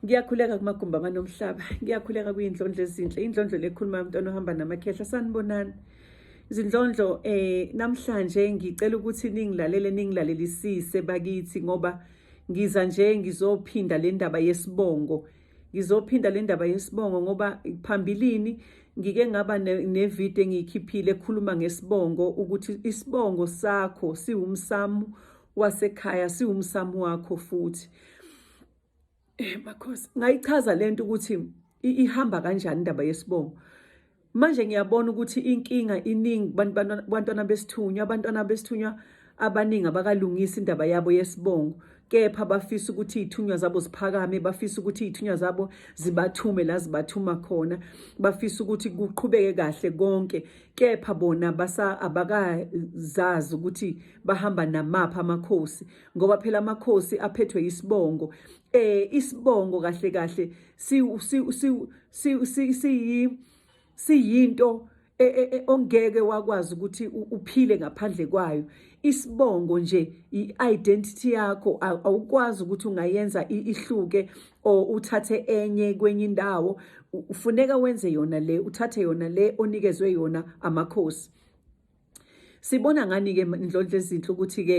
Ngiyakhuleka kumagumbi amanomhlaba, ngiyakhuleka kuyindlondlo ezinhle, indlondlo lekhuluma yomntwana ohamba namakhehla, sanibonani. Izindlondlo eh namhlanje ngicela ukuthi ningilalele ningilalelisise bakithi ngoba ngiza nje ngizophinda le ndaba yesibongo. Ngizophinda le ndaba yesibongo ngoba phambilini ngike ngaba nevideo engiyikhiphile ekhuluma ngesibongo ukuthi isibongo sakho siwumsamu wasekhaya siwumsamu wakho futhi. Eh makhosi ngayichaza lento ukuthi ihamba kanjani indaba yesibongo. Manje ngiyabona ukuthi inkinga iningi bantwana besithunywa abantwana besithunywa abaningi abakalungisi indaba yabo yesibongo kepha bafisa ukuthi izithunywa zabo ziphakame bafisa ukuthi izithunywa zabo zibathume la zibathuma khona bafisa ukuthi kuqhubeke kahle konke kepha bona basa abakazazi ukuthi bahamba namapha amakhosi ngoba phela amakhosi aphethwe isibongo eh isibongo kahle kahle si si si si si siyinto e, e, e, ongeke wakwazi ukuthi uphile ngaphandle kwayo isibongo nje i-identity yakho awukwazi ukuthi ungayenza ihluke or uthathe enye kwenye indawo ufuneka wenze yona le uthathe yona le onikezwe yona amakhosi Sibona ngani ke Ndlondlo ezinhle ukuthi ke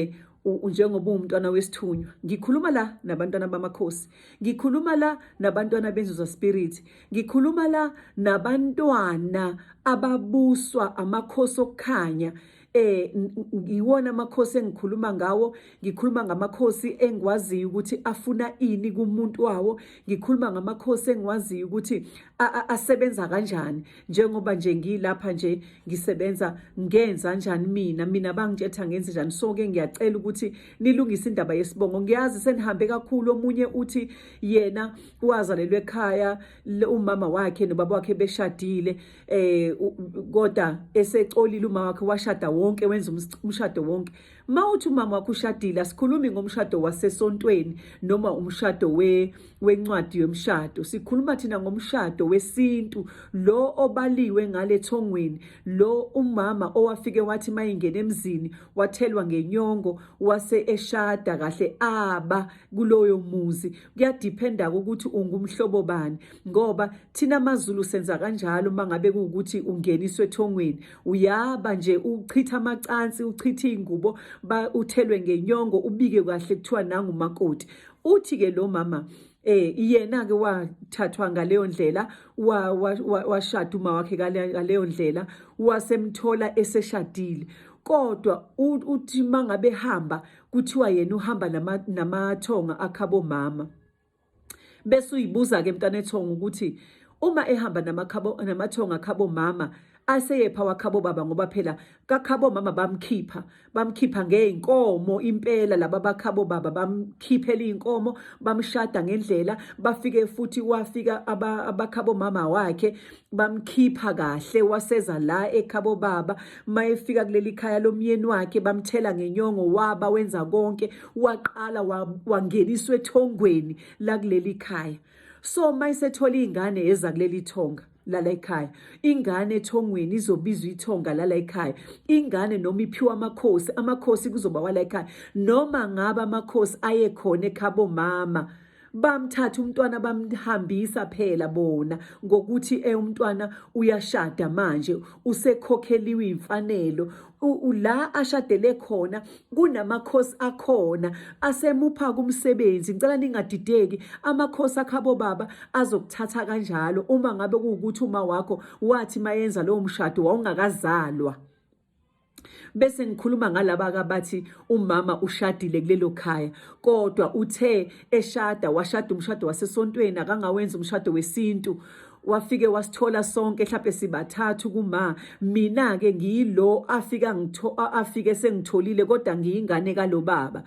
njengoba uwumntwana wesithunywa ngikhuluma la nabantwana bamakhosi ngikhuluma la nabantwana benzuza spirit ngikhuluma la nabantwana ababuswa amakhosi okukhanya eh ngiwona amakhosi engikhuluma ngawo ngikhuluma ngamakhosi engikwaziyo ukuthi afuna ini kumuntu wawo ngikhuluma ngamakhosi engikwaziyo ukuthi asebenza kanjani njengoba nje ngilapha nje ngisebenza ngenza njani mina mina bangitshetha ngenze njani so ke ngiyacela ukuthi nilungise indaba yesibongo ngiyazi senihambe kakhulu omunye uthi yena wazalelwe ekhaya umama wakhe nobaba wakhe beshadile eh kodwa esecolile umama wakhe washada wonke wenza umshado wonke Uma uthi umama wakho ushadile asikhulumi ngomshado wasesontweni noma umshado we wencwadi yomshado sikhuluma thina ngomshado wesintu lo obaliwe ngale thongweni lo umama owafike wathi mayingena emzini wathelwa ngenyongo wase eshada kahle aba kuloyo muzi kuyadiphenda ukuthi ungumhlobo bani ngoba thina maZulu senza kanjalo mangabe ukuthi ungeniswe ethongweni uyaba nje uchitha amacansi uchitha izingubo uthelwe ngenyongo ubike kahle kuthiwa nangu makoti uthi ke lo mama eh yena ke wathathwa ngaleyo ndlela washada uma wakhe ngaleyo ndlela wasemthola eseshadile kodwa uthi mangabe hamba kuthiwa yena uhamba namathonga akhabo mama bese uyibuza-ke mntanethonga ukuthi uma ehamba namathonga khabo mama aseyepha wakhabo baba ngoba phela kakhabo mama bamkhipha bamkhipha ngeyinkomo impela laba bakhabo baba bamkhiphela inkomo bamshada ngendlela bafike futhi wafika abakhabo mama wakhe bamkhipha kahle waseza la ekhabo baba mayefika kuleli khaya lomyeni wakhe bamthela ngenyongo waba wenza konke waqala wangeniswa ethongweni lakuleli khaya so uma isethola iy'ngane eza kuleli thonga lala ekhaya ingane ethongweni izobizwa ithonga lala ekhaya ingane noma iphiwa amakhosi amakhosi kuzoba wala ekhaya noma ngaba amakhosi ayekhona ekhabo mama bamthatha umntwana bamhambisa phela bona ngokuthi eh umntwana uyashada manje usekhokheliwe imfanelo la ashadele khona kunamakhosi akhona asemupha kumsebenzi ngicela ningadideki amakhosi akhabo baba azokuthatha kanjalo uma ngabe kuwukuthi uma wakho wathi mayenza lowo mshado wawungakazalwa bese ngikhuluma ngalaba kabathi umama ushadile kulelo khaya kodwa uthe eshada washada umshado wasesontweni akangawenza umshado wesintu wafike wasithola sonke mhlawumbe sibathathu kuma mina ke ngiyilo afika ngitho afike sengitholile kodwa ngiyingane kalobaba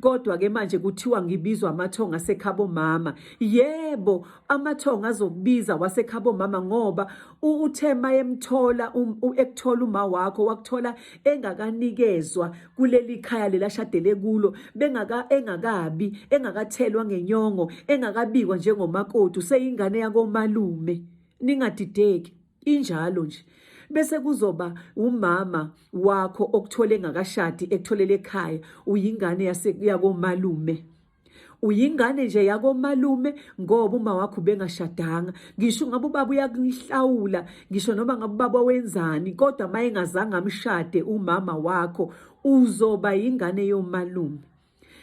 kodwa ke manje kuthiwa ngibizwa amathonga sekhabo mama yebo amathongo azobiza wasekhabo mama ngoba uthe mayemthola um, ekuthola uma wakho wakuthola engakanikezwa kuleli khaya lelashadele kulo bengaka engakabi engakathelwa ngenyongo engakabikwa njengomakoti useyingane yakomalume ningadideki injalo nje bese kuzoba umama wakho okuthole ngakashadi ekutholele ekhaya uyingane yaseyakomalume uyingane nje yakomalume ngoba uma wakho ubengashadanga ngisho ngabe ubaba uyakuhlawula ngisho noma ngabe ubaba wenzani kodwa uma engazange amshade umama wakho uzoba yingane yomalume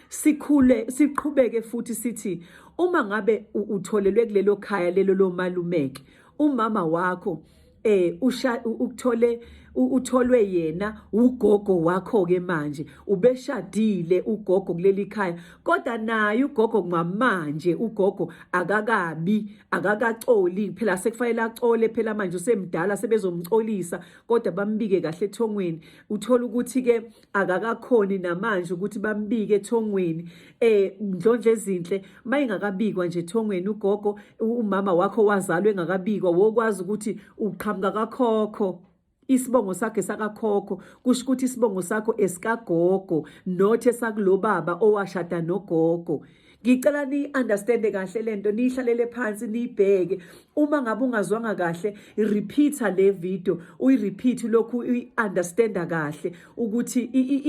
sikhule siqhubeke futhi sithi uma ngabe utholelwe kulelo khaya lelo lomalumeke umama wakho eh usha ukuthole utholwe yena ugogo wakho ke manje ubeshadile ugogo kuleli khaya kodwa naye ugogo ngamanje ugogo akakabi akakacoli phela sekufanele acole phela manje usemdala sebezomcolisa kodwa bambike kahle ethongweni uthola ukuthi ke akakakhoni namanje ukuthi bambike ethongweni eh ndlonje ezinhle mayingakabikwa nje ethongweni ugogo umama wakho wazalwa engakabikwa wokwazi ukuthi uqhamuka kakhokho isibongo sakhe sakakhokho kusho ukuthi isibongo sakho esikagogo not esakulobaba owashada nogogo ngicela niyi-understande kahle le nto niyihlalele phansi niyibheke uma ngabe ungazwanga kahle repeat-a le video uyi-repeat lokhu uyi-understanda kahle ukuthi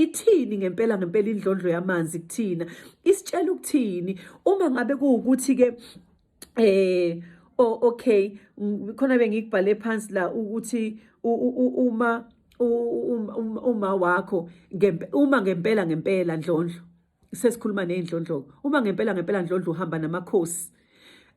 ithini ngempela ngempela indlondlo yamanzi kuthina isitshela ukuthini uma ngabe kuwukuthi-ke eh oh okay khona bengikubhale phansi la ukuthi uma uma wakho uma ngempela ngempela ndlondlo sesikhuluma ney'ndlondloko uma ngempela ngempela ndlondlo uhamba namakhosi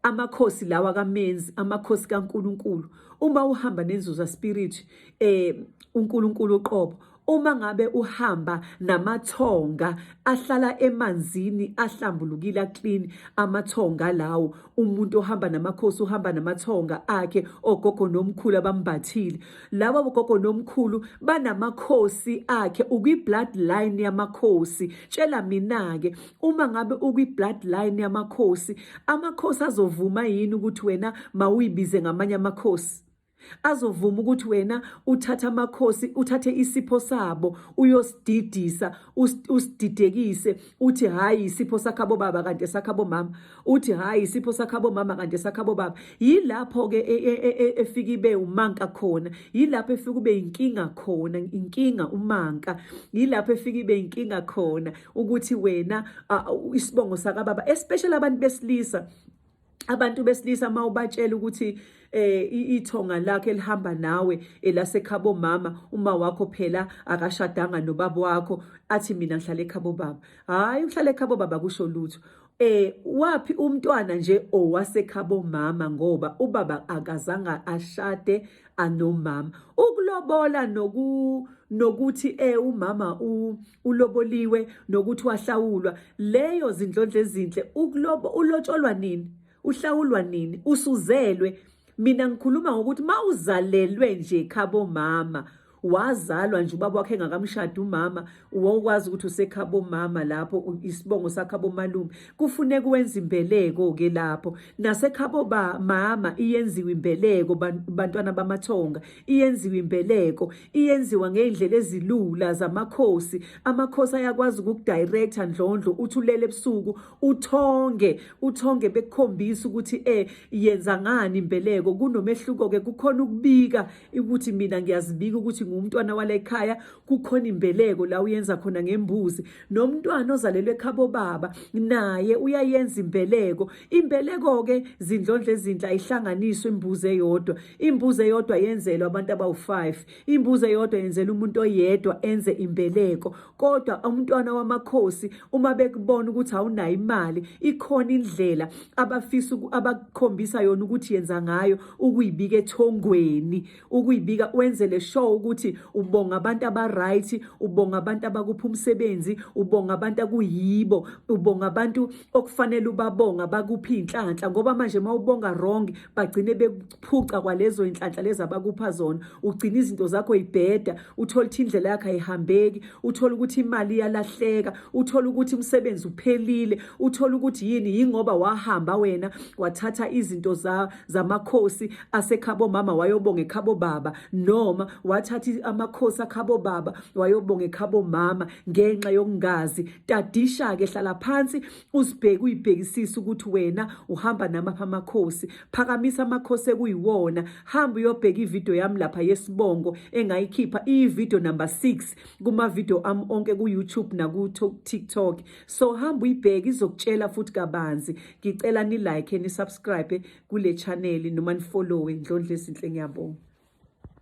amakhosi lawa kamenzi amakhosi kaNkuluNkulu uma uhamba nenzuza spirit eh uNkuluNkulu uqobo uma ngabe uhamba namathonga ahlala emanzini ahlambulukile clean amathonga lawo umuntu ohamba namakhosi uhamba namathonga akhe ogogo nomkhulu abambathile laba bogogo nomkhulu banamakhosi akhe ukwi-bloodline yamakhosi tshela mina-ke uma ngabe ukwi-bloodline yamakhosi amakhosi azovuma yini ukuthi wena mawuyibize ngamanye amakhosi azovuma ukuthi wena uthatha amakhosi uthathe isipho sabo uyosididisa usididekise uthi hhayi isipho sakhabo baba kanti esakhabo mama uthi hhayi isipho sakhabo mama kanti esakhabo baba yilapho-ke e, e, e, efike ibe umanka khona yilapho efike ube yinkinga khona inkinga umanka yilapho efike ibe yinkinga khona ukuthi wena isibongo sakababa especially abantu besilisa abantu besilisa uma ubatshela ukuthi eh ithonga lakhe lihamba nawe elasekhabo mama uma wakho phela akashadanga nobaba wakho athi mina ngihlala ekhabo baba hayi uhlala ekhabo baba kusho lutho Eh wapi umntwana nje owasekhabo mama ngoba ubaba akazanga ashade anomama. Ukulobola noku nokuthi eh umama uloboliwe nokuthi wahlawulwa leyo zindlondle ezinhle ukulobo ulotsholwa nini? Uhlawulwa nini? Usuzelwe. Mina ngikhuluma ngokuthi mawuzalelwe nje khabo mama wazalwa nje ubaba wakhe engakamshada umama wawukwazi ukuthi usekhabo mama lapho isibongo sakhabo malume kufuneka wenza imbeleko ke lapho nasekhabo ba mama iyenziwa imbeleko bantwana bamathonga iyenziwa imbeleko iyenziwa ngeindlela ezilula zamakhosi amakhosi ayakwazi ukukudirector ndlondlo uthulele ebusuku uthonge uthonge bekukhombisa ukuthi eh yenza ngani imbeleko kunomehluko ke kukhona ukubika ukuthi mina ngiyazibika ukuthi ngumntwana wala ekhaya kukhona imbeleko la uyenza khona ngembuzi nomntwana ozalelwe ekhabo baba naye uyayenza imbeleko imbeleko-ke zindlondla ezinhle ayihlanganiswe imbuzi eyodwa imbuzi eyodwa yenzelwa abantu abawu-five imbuzi eyodwa yenzela umuntu oyedwa enze imbeleko kodwa umntwana wamakhosi uma bekubona ukuthi awunayo imali ikhona indlela abafisa abakukhombisa yona ukuthi yenza ngayo ukuyibika ethongweni ukuyibika wenzele show ukuthi ubonga abantu abaright ubonga abantu abakupha umsebenzi ubonga abantu akuyibo ubonga abantu okufanele ubabonga bakuphi inhlanhla ngoba manje mawubonga wrong bagcine phuca kwalezo inhlanhla lezi abakupha zona ugcina izinto zakho ibheda uthole ukuthi indlela yakho ayihambeki uthole ukuthi imali iyalahleka uthole ukuthi umsebenzi uphelile uthole ukuthi yini yingoba wahamba wena wathatha izinto za zamakhosi asekhabo mama wayobonga ekhabo baba noma wathatha amakhosi akhabo baba wayobonga ekhabo mama ngenxa yokungazi tadisha ke hlala phansi uzibheke uyibhekisise ukuthi wena uhamba namaphi amakhosi phakamisa amakhosi ekuyiwona hamba uyobheka ividiyo yami lapha yesibongo engayikhipha iyividiyo number six kumavidiyo ami onke ku-youtube naku-tiktok so hamba uyibheke izokutshela futhi kabanzi ngicela nilike nisubscribe kule chaneli noma nifollowe ndlondla ezinhle ngiyabonga